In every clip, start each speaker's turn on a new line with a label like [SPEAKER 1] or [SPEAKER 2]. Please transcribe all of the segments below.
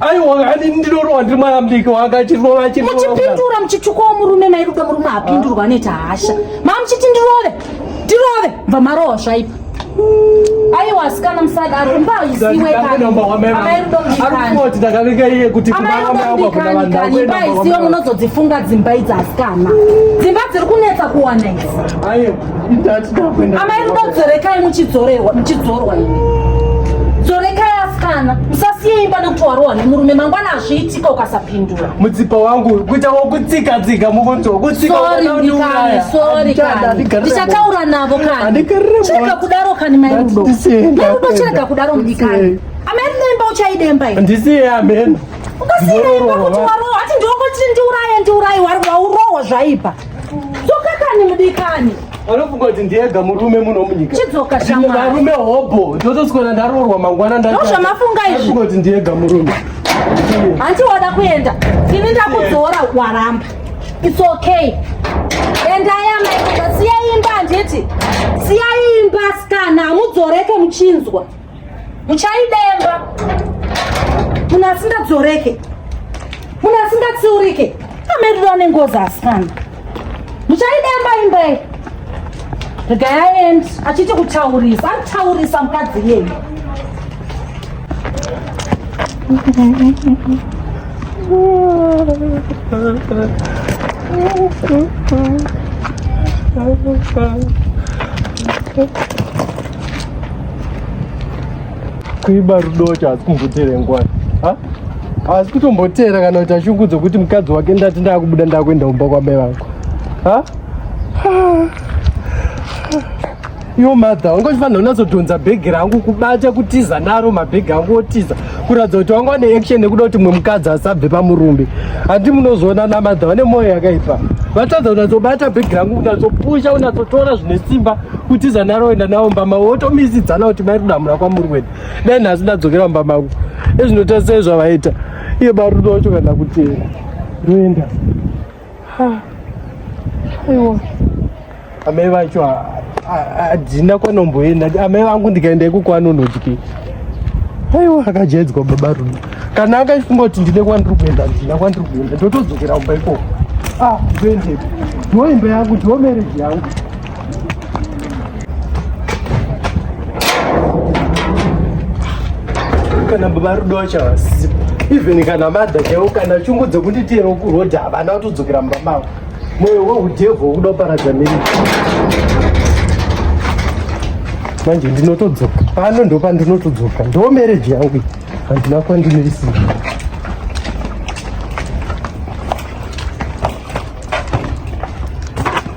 [SPEAKER 1] aiwa ani
[SPEAKER 2] ndinorowa ndiri mwayambiki wakatirova muchipindura
[SPEAKER 1] muchitsvukawo murume mairudo murume apindurwa anoita hasha maa muchiti ndirove ndirove bva marowa zvaipa aiwa asikana musadaro mbaisiweamairudombikanimbaisiwe munozodzifunga dzimba idzi asikana dzimba dziri kunetsa kuwana idzi
[SPEAKER 2] amai rudo dzorekai
[SPEAKER 1] muchidzorerwa muchidzorwa ini dzorekai asikana musasiye imba nekuti warohwa nemurume mangwana azviitika ukasapindura mutsipa wangu
[SPEAKER 2] kuita wokutsika tsika mukunzwa kutsikandichataura
[SPEAKER 1] navo kani chirega kudaro kani mai rudo mai rudo chirega kudaro mudikani amai rudo imba uchaidemba ini ndisiye ameno
[SPEAKER 2] ukasiya imba kuti
[SPEAKER 1] warohwa ati ndiongotii ndiuraye ndiuraye waurohwa zvaipa Dzoka kani mudikani. Anofunga kuti
[SPEAKER 2] ndiyega murume muno munyika. Chidzoka shamwari. Varume
[SPEAKER 1] hobho.
[SPEAKER 2] Ndotoswera ndaroorwa mangwana ndaita. Ndozvamafunga izvi. Anofunga
[SPEAKER 1] kuti ndiyega murume.
[SPEAKER 2] Hanti
[SPEAKER 1] wada kuenda. Ini ndakudzora waramba. It's okay. Endai amai. Siya imba handiti. Siya imba sikana. Mudzoreke muchinzwa. muchaidemba munhu asingadzoreke munhu asingatsiurike ameriro ane ngozi asikana muchaidemba imbei regai aendi achiti kutaurisa akutaurisa mukadzi yei Thank
[SPEAKER 2] you. kuiba rudocha asi kumboteera nguva haasi kutomboteera kana kuita shungu dzokuti mukadzi wake ndati ndakubuda ndakuenda kumba kwabai vako iwo madha wanga uchifanira unatsodhonza bhegi rangu kubata kutiza naro mabhegi angu otiza kuratidza kuti wanga wane action nekuda kuti mwe mukadzi asabve pamurumbi handi munozoona namadha vane mwoyo yakaipa vatadza unatsobata bhegi rangu unatsopusha unatsotora zvine simba kutiza naro enda nawo mbama wotomisidzana kuti mai kudamura kwamuri wena dai nhasi ndadzokera mbama ku ezvinotarisa ezvavaita iye barudo wacho kana kutera roenda aiwa amai vacho hadzina kwanomboenda amai vangu ndikaenda iko kwanonodyi aiwa akajaidzwa baba rudo kana akaifunga kuti ndine kwandiri kuenda ndina kwandiri kuenda ndotodzokera kumba ikoko ah ndoendepo ndoimba yangu ndomereji yangu kana baba rudo wacho havasipo even kana madha chaiwo kana chungu dzekunditiyero kurodha havana kutodzokera mumba mavo moyo weudhevhu wokuda kuparadza miri manje ndinotodzoka pano ndo pandinotodzoka ndo mereji yangu handina kwandimirisira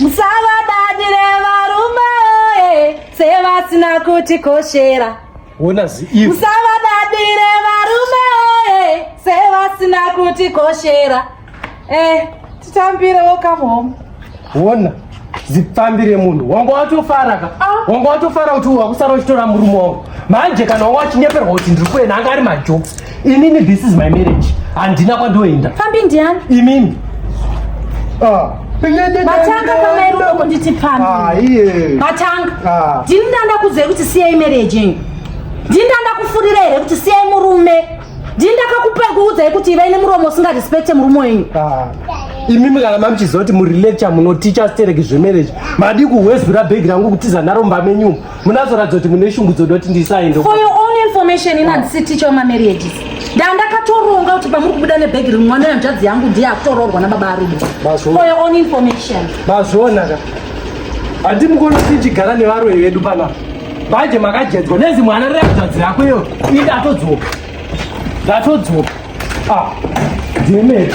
[SPEAKER 1] musavadadire varume oye sevasina kutikoshera musavadadire varume oye sevasina kutikoshera eh, titambire welcome home wona
[SPEAKER 2] zipfambire munhu wanga watofara ka ah. wanga watofara kuti wakusara uchitora murume wangu manje kana wanga wachinyeperwa kuti ndiri kuenda anga ari majoks Inini this is my marriage. Handina kwandoenda. Pfambi ndiani?
[SPEAKER 1] Imimi.
[SPEAKER 2] Ah.
[SPEAKER 1] Matanga kama iri uko nditi pfambi. Ah, iye. Matanga. Ah. Ndini ndanda kudzei kuti siyai marriage yenyu. Ndini ndanda kufurira here kuti siyai murume. Ndini ndakakupai kuudzai kuti ivai nemuromo usingarespecte murume wenyu. Ah. imimi
[SPEAKER 2] kana mamuchiziva kuti murilate chamunoticha stereki zvemarriage madi kuhwezura bhegi rangu kutiza naro mbamenyumo munazoratidza kuti mune shungu dzoda kuti ndisaende for your own information
[SPEAKER 1] ini handisi ticha wemamarriages ndandakatoronga kuti pamuri kubuda nebhegi rimwe mwana yanzvadzi yangu ndiye akutoroorwa nababa arume for your own information
[SPEAKER 2] mazvionaka handi mukono tichigara nevaroyi vedu panapa manje makajedzwa nezi mwana reyanzvadzi yako iyo ini ndatodzoka ndatodzoka ah demeti